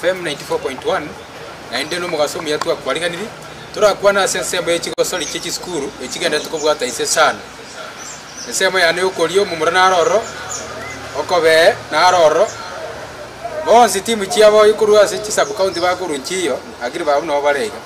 FM 94.1 Naende nomogaso omuya twakwariganiri torakwane ase ensemo ye chigosori chie chisukuru echigenderete kobwata inse sana. Ensemo yane yokoria omomura naro ororo, okobee naro ororo. Bonsi timu chiabo ekorwa ase chisub-county bakorwa nchiyo, agribe abwo nabo bare iga.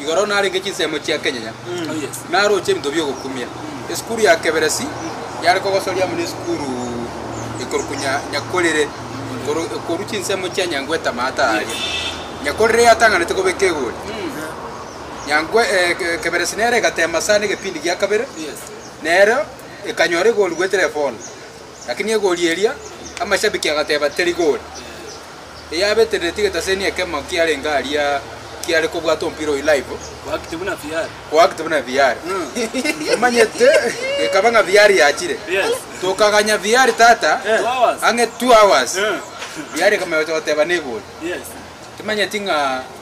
Igoro narenge chinsemo chia kenyenya, naroche ebinto bi'ogokumia. Esukuru ya Keberesi yare kogosoria amo n'esukuru ekorokwa Nya, Nyakorere. Koro ekorwa chinsemo chia Nyangwe etamata aria. Nyakorere yatang'anete kobeka egori. Nyangwe, eh, Ke- Keberesi nere egatema sana egepindi gia kabere, nero ekanyora egori goetera efono. Lakini egori eria, amashabiki agateba teri gori. eyabetereretie egetaseni ekemo kiarenge aria kiare kobwata omopira oyio live, Go active buna VR. go active buna VR. Omanyete, gekaba ng'a VR yachire. Yes. Tokaganya VR tata, Eh. Two hours. ang'e two hours. Eh. VR ekama gocha goteba negori. Yes. Timanyeti ng'a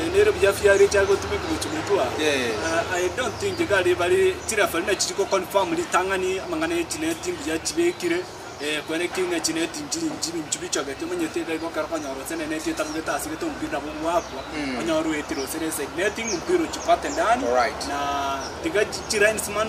eh, nere buya fiari echa gotumeka gochi motwa Eh. Ah, I don't think iga riba ri- chirefari na chiri goconfirm ritang'ani amang'ana ya echineti mbuya chibekire eh, kwene kinya chineti nchi nchi binchu bichogete omanyete iga igo ekero okonyora gose nene neti etabugete ase egete omopira nabo gwakwa onyore oetire gose na eside netting omopira ochikote ndani Alright. na tiga chi- chilinesman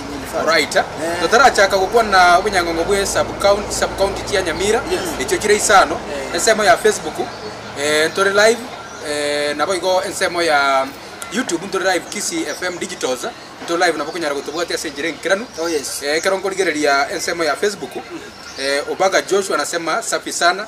Oraita. Eh. Totarachaka gokwana obonyangongo bwe sub county sub county chia Nyamira. Yes. Echio chire isano. Eh. Ensemo ya Facebook eh, ntore live eh, nabo igo ensemo ya YouTube ntore live Kisii FM Digitals ntore live nabo okonyara gotobwatia ase enchera enkeranu. Oh, yes. Eh, ekero nkorigereria ensemo ya Facebook eh, Obaga Joshua nasema safi sana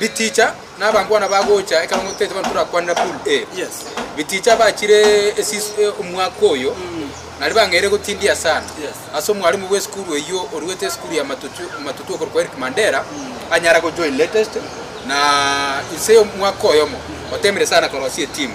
Biticha nabangwana bagocha ekero ngotaete bono torakwanera pool A. Biticha bachire omwaka oyo nari bang'eire gotindia sana ase omwarimu bwe sukuru eyio oruete esukuru ya Matutu okorokwa Eric Mandera anyare go join latest na inse omwaka oyomo otemire sana korosia etimu.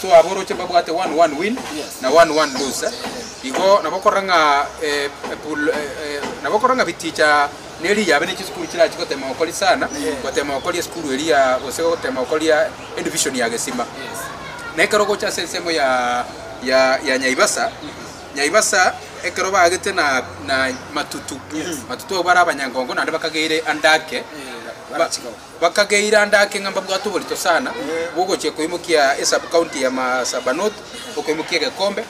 So aboroche mbabwate one one win na one one lose. Igo nabo okorora ng'a eh, eh, pool, eh, eh, nabo okorora ng'a biticha neri yabe ne chisukuru chirachi gotema gokori sana gotema gokori esukuru eri ya gose gotema gokori ya edivision ya gesima na ekero ogocha ase ensemo ya ya ya nyaibasa nyaibasa ekero bagete na na matutu matutu abo bare abanyangongo naende bakageire andake ba- Bakageira ande ake ng'a mbabwate oborito sana bw'ogochia koimokia esub county ya Marsabah North okoimokia egekombe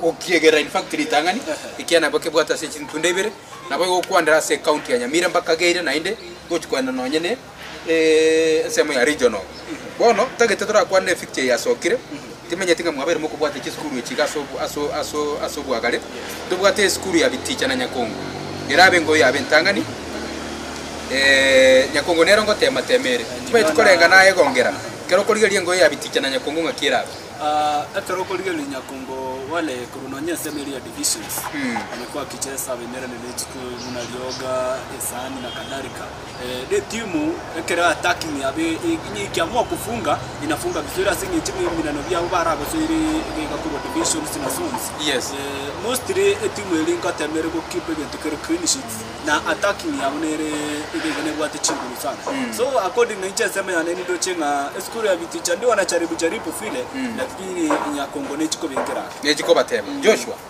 gokiegera in fact ritang'ani ekiagera nabo kebwate ase chintunda ibere nabo egokwanera ase county ya Nyamira mbakageire naende gochi koenda nonye ne ensemo ya regional bono tagete torakwane ne fixture eyasokire Timenyeti ng'a mwabere mokobwata chisukuru echi iga ase obwagare. Tobwate esukuru ya biticha na nyakongo, erabe engoyo ya ab'entang'ani. Ee, nyakongo nere ongoteema-teema ere. Timenyeti korenga nayegongera ekero okorigereria engoyo ya biticha na nyakongo ng'aki erabe. Ekero okorigereria nyakongo wale korwa nonya ase emeri ya divisions, onye kwakiche esaaba emerane ne echiko buna rioga, esaani, na kadhalika. Netimu ekero yatakinia be inyikia mokufunga inafunga vizuri ase eng'encho ebiminano biabo baragosoire iga iga korwa divisions na zones Yes. Eh, mostly etimu eri ngotema ere gokeep egento kere clean sheet na attacking yabo nere iga iga nebwate chinguru sana so according na inche ensemo yane nindoche ng'a esukuru ya viticha ndigona charibu charibu vile lakini inyakongona echikobengera ake. Nechikobatema. Joshua.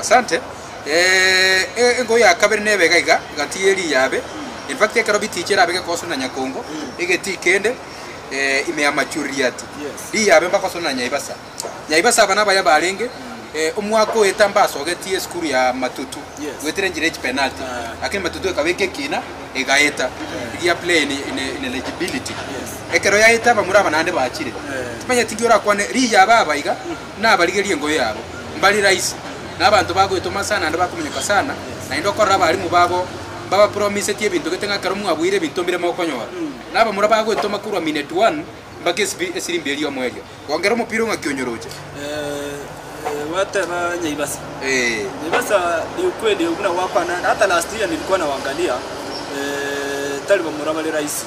Asante. Ee, e, engo ya kabere nebe iga iga, egati ye riyabe. In fact, ekero bitiiche erabe gekooswa na nyakongo, egetii kende, eh, ime ya machuriati. Yes. Riyabe mbakooswa na nyaibasa. Nyaibasa aba nabaya barenge, eh, omwaka oeta mbasogetie esukuru ya matutu, Yes. goetera enchera echipenalty. Ah. Lakini matutu ekaba eke ekina, egaeta. Eria play in, in, in eligibility. Yes. Ekero yaeta abamura aba naende bachire. Eh. Timanyeti nki orakwane, riyabe aba iga, Nabarigerie engoyo yabo mbare rahisi, na abanto bagoetoma sana naende bakominyoka sana, naende okorora abarimu babo mbabapromisetie ebinto gete ng'a ekero mwaboyire ebinto mbire mokonyora. Na abamura bagoetoma korwa minute one mbaka esibiri esirimbia eriomo erio. Gongera omopira ong'aki onyoroche. Gwateba Nyaibasa. Nyaibasa ni ukweli buna gwakwana naye. Hata last year nilikuwa nawaangalia, tari bamura bare rahisi.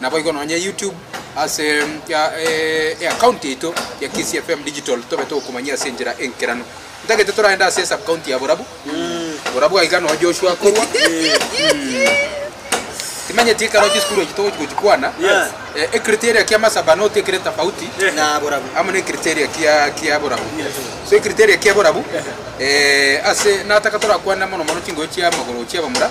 Naboigo nonye YouTube ase eaccount yaito ya Kisii FM Digital tobe togokomanyia ase enchera enkeranu. Ntagete toraende ase esub county ya Borabu. Borabu aiga noo Joshua akorwa. Timenyeti ekero chisukuru echi togochi gochikwana. Ecriteria kia Masaba not ekere tofauti na Borabu. Amo ne criteria kia kia Borabu. So ecriteria kia Borabu ase nataka torakwane mono mono chingochi chia magoro chia abamura.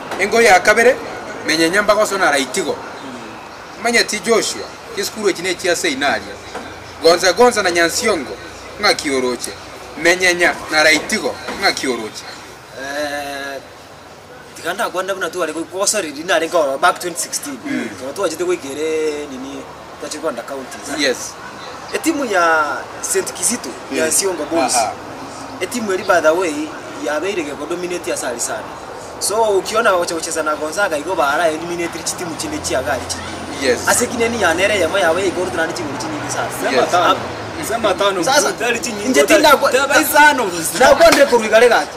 Engoye ya kabere, Menya enyambaga osonara itigo. Omanyeti Joshua, Chisukuru echi nechia seinario. Gonza gonza na nyansiongo, Ng'aki oroche? Menyenya nara itigo, Ng'aki oroche? Tiga ndakwane buna tware goika gosoriri narenge ororo back 2016 ekero twachete goika ere nini Tachigwanda Counties, Yes. Etimu ya Saint Kizito ya Isiomba Boys, Aha. etimu eri by the way yabeire geko dominate ase aria sana. So okiona bagocha gochesa na Gonzaga igo bara eliminated chitimu chinde chiaga aria chinyinge. Yes. Ase ekineni ya nere eyemo yabo ya igoro tari chigoro chinyinge sana. Nsemo Yes. atano. Nsemo atano. Sasa, Tari chinyinge. inche tari- tindakwa- Teba isano. Nakwanire korwa igare gaki.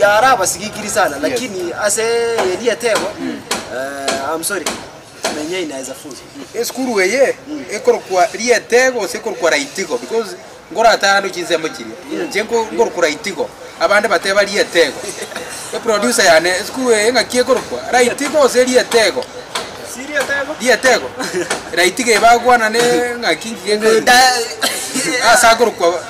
Yara abasigikiri sana lakini ase eria etego eh, I'm sorry menyei na is a fool Esukuru eye ekorokwa rietego gose ekorokwa raitigo because nkorata ande chinsemo chiria inche nko- nkorokwa raitigo abande bateba rietego eproducer yane esukuru eye ng'aki ekorokwa raitigo gose rietego rietego raitigo eba agwana ne ng'aki nki ekorokwa ase akorokwa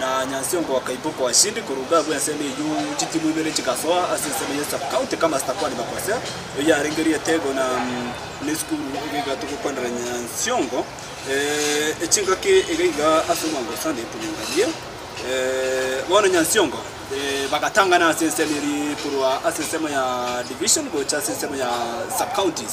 Na Nyansiongo akaiboka oashindi korwa abwo ensemo eyio, chitimu ibere chigasoa ase ensemo ya sub county kama Stakwa ni Bakwese, eyio yarenge rietego na nesukuru egaiga togokwanera Nyansiongo echingaki egaiga ase omwango o Sunday epoyengarie. Bono Nyansiongo bagatangana ase ensemo eria korwa ase ensemo ya division gocha ase ensemo ya sub counties.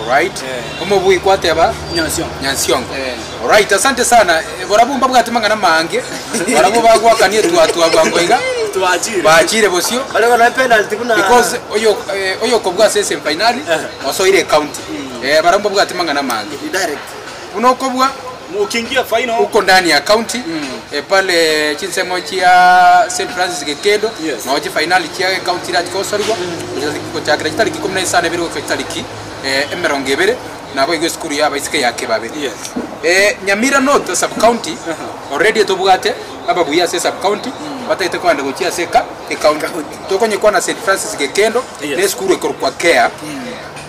Alright omobui kwateba Nyansiongo alright asante sana borabwo mbabwate mang'ana mange barabwo bagwakania etwatwa bwango iga baachire bosio because oyo oyokobua ase semi finali osoire ecounty barabwo mbabwate mang'ana mange buna okobua Uko ndani ya county pale chinsemo chia Saint Francis Gekedo nao chifainali chia gecounty irachi kosorigwa gochakera chitariki ikomi na isano ebere goika chitariki emerongo ebere nabo igo esukuru ya abaiseke ya Kibabe. Nyamira North as sub county already tobwate ababuya ase sub county batagete kogenda gochia ase gecounty tokonyekwana Saint Francis Gekedo ne esukuru ekorokwa Care.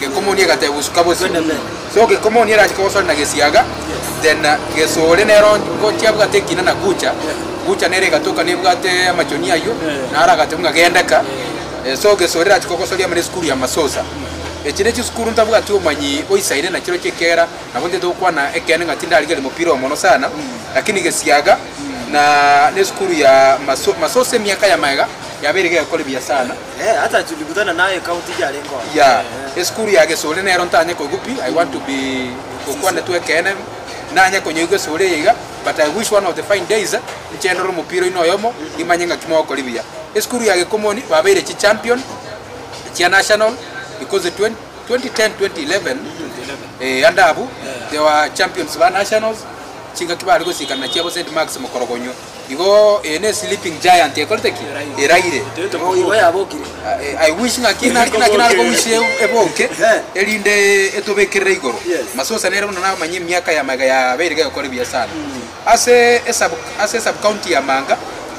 Gekomoni egateba bosuka bosio, so gekomoni erache kogosore na gesiaga, then gesore nero ngochia bwate ekina na gucha, gucha nere egatoka nebwate amachonia ayio, naro agachia buna gendeka, eh, so gesore erache kogosoria amo nesukuru ya masosa. Echi nechisukuru ntabwati omanyi oisaine nachirochio ekera nabo ntete gokwana ekeene ng'a tindarigeria mopira omono sana, lakini gesiaga na nesukuru ya maso masosa emiaka ya magega yabeire gegekora ebuya sana. Eh, hata tulikutana naye kaunti ija arenge oo. ya Eh. esukuru ya gesore nero ntanye koigwa pi i want to be gokwana tu ekeene nanye konyoigwa esore eye iga but i wish one of the fine days nche ndore omopira oino oyomo imanye ng'aki mogokori buya esukuru ya gekomoni babeire chi champion chia national because 20 2010 2011 eh ande abwo they were champions ba nationals chingaki bare gosikana chiabo saint marks mokorogonyo Igo eye ne sleeping giant ekorete ki? Eraire. Nigo igo yabokire. I I wish ng'aki naki naki nare kowish e- eboke erinde etobekerere igoro. Masusa nere buna namanyia emiaka ya maiga yabeire gegokora ebiasara. Ase esub ase esub county ya Manga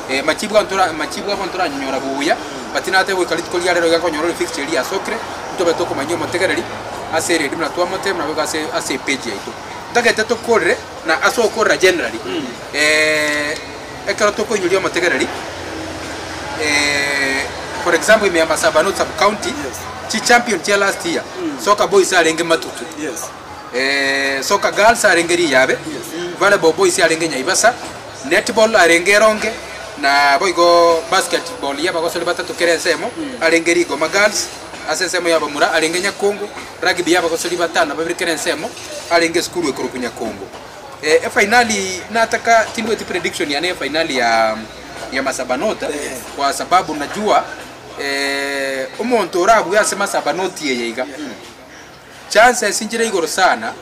eh, machibu ga ntora machibu abo ntoranyonyora buya but natebe goika rituko ria rero iga konyora ore fixed eria yasokire ntobe tokomanyia omotegereri ase eredi buna twamotebia buna boigo ase ase epage yaito. Ntagete tokorire. Na ase okorora generally, eh, ekero tokoinyoria omotegereri, eh, for example ime Embasava North sub county, Yes. chi champion chia last year, Soka Boys arenge Matutu, Yes. eh, Soka Girls arenge Riyabe, Yes. Volleyball Boys arenge Nyaibasa, Netball arenge Eronge, na boigo Basketball ya abagosori batato kera ensemo arenge Rigoma Girls, ase ensemo ya abamura arenge Nyakongo, Rugby y'abagosori batano na babere kera ensemo arenge esukuru ekorokwa Nyakongo. Eh, efainali nataka tindweti prediction yane ya efainali ya ya Masabanot kwa sababu najua eh, omonto orabue ase Masabanot eye iga chances inchire igoro sana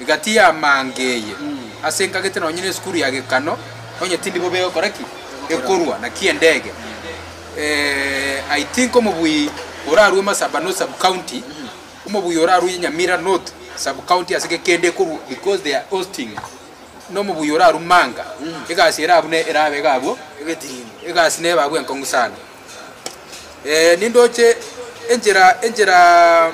egati ya mange eye ase nkagete nonye na esukuru ya gekano onye tindi bobe egokora ki ekorwa naki endege Eh I think omobui orarue Masaba North sub county omobui orarue Nyamira North sub county ase ge kende ekorwa because they are hosting na omobui orarue Manga egasi ere abwo ne erabe iga abwo egasi neba abwo enkong'u sana Eh nindoche enchera enchera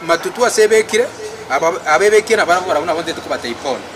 matutu ase ebekire aba abebekire nabarabwo barabwo nabo ntete kobatebia bono.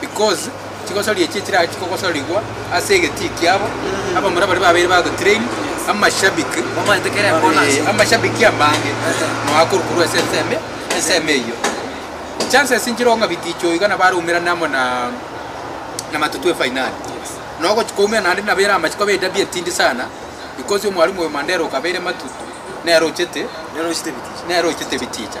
Because chigosoria echi echirare chikogosorigwa ase egetii kiabo, abamura baria babeire bagotrain, amashabiki, eh, amashabiki amange noa korukorwa ase ensemo, ensemo eyio. Chances nchireo ng'a biticho iga nabo araumerane amo na na Matutu efainali. Na ogochia koumera naende nabo ere amachiko abe edabi etindi sana, because omwarimu oyo Mandera okabeire Matutu, nere ochete, Nere ochete biticha. nere ochete biticha.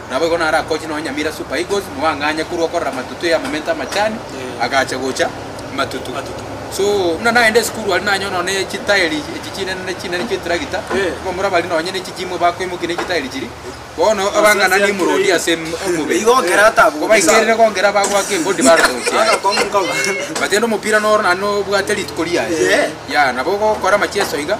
Naboigo narakoche nonya Nyamira Super Eagles moa ng'anya korwa okorora matutu ya amamento amachani agacha gocha matutu. So buna naende esukuru aria nanyora nonya ne chitaeri echi chinene chinene chia etragita abamura bari nonya ne chijimo bakoimokia ne chitaeri chiri bono abang'ana nimorodi ase omobere kobaikere kongera bagoaka embodi barota gochiaya. But rende omopira noro naende nobwate rituko riaye. Yea nabo ogokora amacheso iga.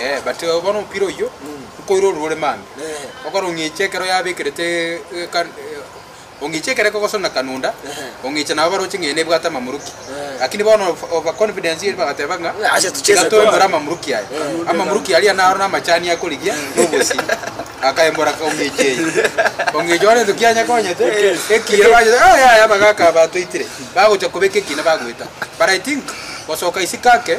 Ee, but eh, bono omopira oyio nkoire orurore mambia Ehe. okora ong'eche ekero yabekerete eh, eh, ka- eh, ong'eche ekero ekogosona kanunda Ehe. ong'eche nabo baroche ng'ende ebwate amamuruki Ehe. lakini bono of- over confidence eri bagateba ng'a Eh, acha tucheze tiga twembore twara. amamuruki aya Ehe. amamuruki aria naro namachani akorigia nobosi akayembora ka ong'eche eye ong'eche one entuki anyakonyete ekire banyete "Ah, yaya abagaka aba twaitire bagocha kobeka ekina bagoeta but i think gosoka isiko ake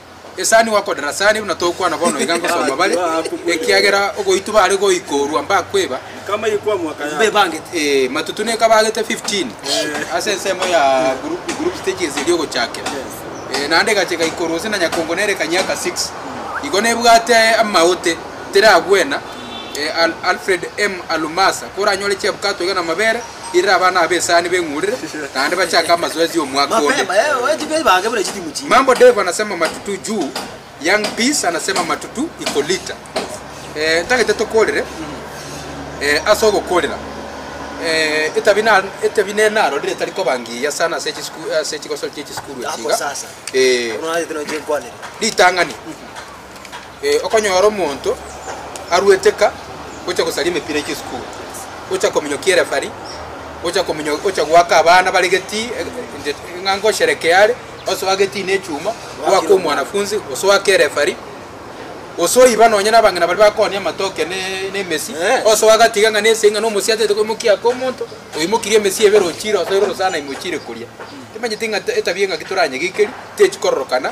Esani gokodera sare, buna togokwana bono iga ngosoma bare, ekiagera ogoitwa bare goikorwa mbakweba, eh, matutu neka bagete 15 ase ensemo ya group group stages eria ogochakera, eh, naende egacha egaikorwa gose na nyakongo nere ekanyiaka 6. Igo nebwate amaote teragwena, eh, Al- Alfred M. Alumasa, koranyore chiabwato iga namabere. Irira abana abo esaani beng'urire, naende bachake amazoezi omwaka onde. Mambo Dave anasema matutu juu, Young Peace anasema matutu iko lita. Eh, ntagete tokorire eh, ase ogokorera eh, etabi na etabi ne narorire etari koba ngiya sana ase chisiku ase chigosori chie chisukuru echi iga eh, ritang'ani Ee, okonyora omonto aruete ka gocha gosaria emepira ya chisukuru, gocha kominyokia erefari, gocha kominyo, gocha goaka abana bare getii, eh, nje- ng'a ngosherekea are, osoa getii ne echuma, oake omwanafunzi, gose oake erefari, gose oiba nonye na abang'ina baria bakooni amatoke ne ne emesi, Eh. gose ogatiga ng'a nese ng'a na omosie atagete koimokia ake omonto, oimokirie emesi ebere ochire osoire orosana ime ochire koria. Timanyeti ng'a etabia eng'aki toranyegekeri, techi kororokana.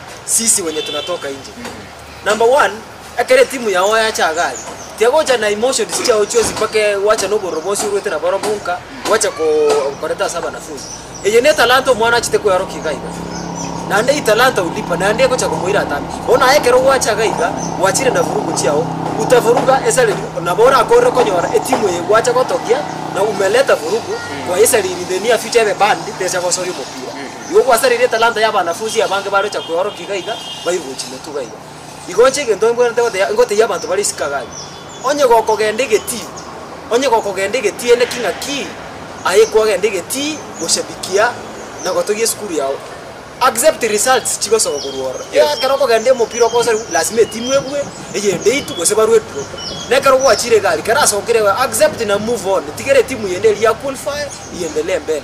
sisi wenye tunatoka inje. Number one, ekero etimu yao yacha iga aria, tiagocha na emotions chiao chionsi mpaka e- gwacha na obororo bwonsi orwete nabo ororo bonka, gwacha ko- koreta ase abanafunzi. Eye ne talanta omwana achete koeorokia iga iga. Naende hii talanta hulipa, naende egocha komoira atambe. Bono aye ekero gwacha iga iga, gwachire na vurugu chiao, utavuruga esari nabo orakorire konyora etimu eye gwacha gotogia, na umeleta vurugu, kwaye esariri in the near future ebe banned, techa gosoria omopira. Igo gwasareire etalanta y'abanafunsi abange barocha kweorokia iga iga, bairigwe chimotuga iga, Igo inche egento mbwenerete gotebia, ngotebia abanto bare Isikaria, Onye gokogenda egetii, onye gokogenda egetii ende ki ng'aki aye kwagenda egetii goshabikia na gotogia esukuru yao, accept results chigosoka korwa ororo. Ekero okogenda omopira okosoriwa, lasima etimu ebue, eyende eitwe gose ba Red Drop. Na ekero gwachire egari, kera asokire iga, accept na move on, tigera etimu yende eria ya qualify, iendelee mbele.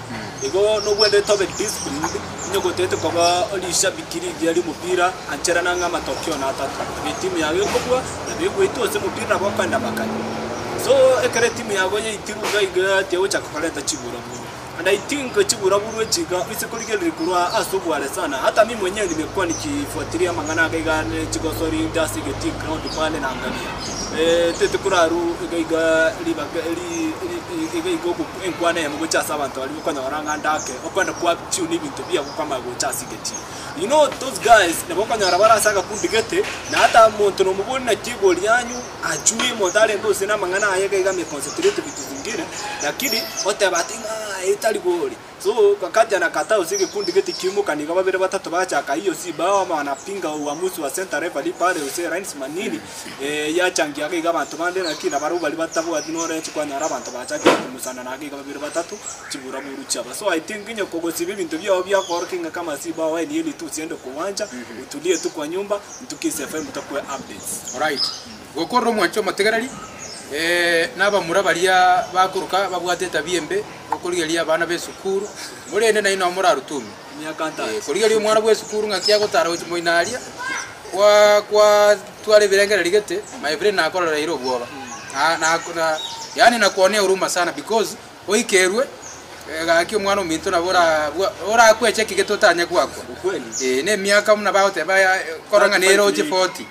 Igo nogwenerete tobe disciplined, onye gotete koba rishabiki rigiya ri'omopira, anchera nang'e amatokeo natato. Nabo etimu yago ekobua, nabo egweitwa ase omopira nabo okoenda amakanyi. So ekero etimu yago yaitirwe iga iga tigochaka korenta chiburoburu. And I think chiburoburu echi iga oise korigereria korwa ase obware sana. Hata mimi mwenyewe nimekuwa nikifuatilia amang'ana aga iga ne chigosori inde ase egetii ground pale naangalia. Tete korarwa iga iga ribaga eri eri iga iga ogo. Enkwana eyemo gochia ase abanto baria bokonyora ng'a ndake okwenda kwa Chiu ne ebinto biabo kwamaya gocha ase egechie. You know those guys nabo okonyora bare ase agakundi gete na hata omonto nomobori naki egori yanyu achue omonto arente ose namang'ana aye iga iga ame concentrate vitu zingine lakini oteba ati ng'a eye tari gori so wakati anakataa ase egekundi gete kiaimoka nigo babere batato bagachaka hiyo si bao ama wanapinga uamuzi wa centre referee pale ose linesman nini. Ee, yachangia agaiga abanto bande, naki nabarabwo baria batabwati norechi kwanyora abanto bachakire kong'usana na agaiga babere batato chiburaburu chiabo. So I think onye kogosiba ebinto biao biakoorokia ng'a kama siba oe niye ritusi ende kogwancha, otulie etu kwa nyomba, Ntukisi FM tokwe updates. Alright. Gokorora omwancho omotegereri, eh, na abamura baria bakoroka babwate etabia embe, okorigereria abana b'esukuru, korende nainwe nabo morarutume. Korigereria omwana bw'esukuru ng'aki agotara gochia moino aria, kwa- kwa- twara ebirengererio gete, my brain nakorereire obwoba. Na- na- na- yaani nakuonea huruma sana because oikerwe eh, gaki omwana ominto nabo ora- bwa- orakweche ki gete otanye gwakwa. Ukweli. Eh, na emiaka buna bagoteba ya- kora ng'a neroche forty.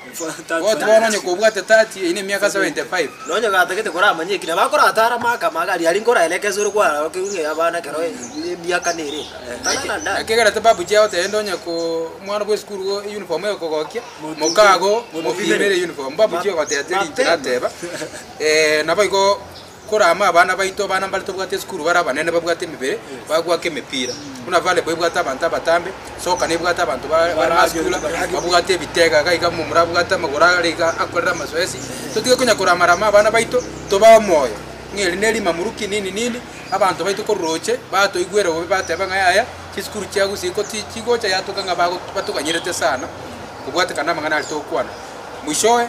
Goti bono onye kobwate 30, eyio nemiaka 75. Na onye gatagete koramanye eki nabo akorata are amaka amake, aria aria nkoraeleka esore kwararokerwe ng'a ey'abana ekero emiaka nere eka. Tang'ana Naki ndare. ekegerete babu chiao tende onye ko omwana bwe esukuru igo eyuniform egokogokia, mokago mopimere eyuniform. Babu chiao ogoteta erinche nateba, Ee, naboigo Korama abana baito, abana mbare tobwate esukuru bare abanene babwate emebere bagoaka emepira, buna volleyball ebwate abanto abatambe, soccer nebwate abanto ba bare masikula babwate ebitega iga iga momura abwate amagoro are iga akorere amazoezi, totige konya korama rama abana baito tobae omoyo ng'a eri ne rimamuru kinini nini, abanto baito ko roche batoigwere bobe bateba ng'a yaya chisukuru chia gusii ko ti chigocha yatoka ng'a bago batoganyerete sana, kobwatekana na amang'ana aria togokwana, mwishowe.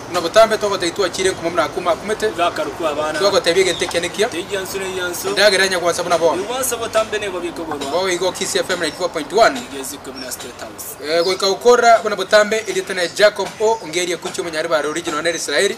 Buna botambe togotebia twachire enkumo buna Akuma akumete, togotebia egento ekiya nekiya, endagera enya gwansa buna bono. Bobe igo Kisii FM 94.1. Goika gokorera buna botambe erieta ne Jacob O. Ngeri Ekuchi omonyare bare original nere Israeli.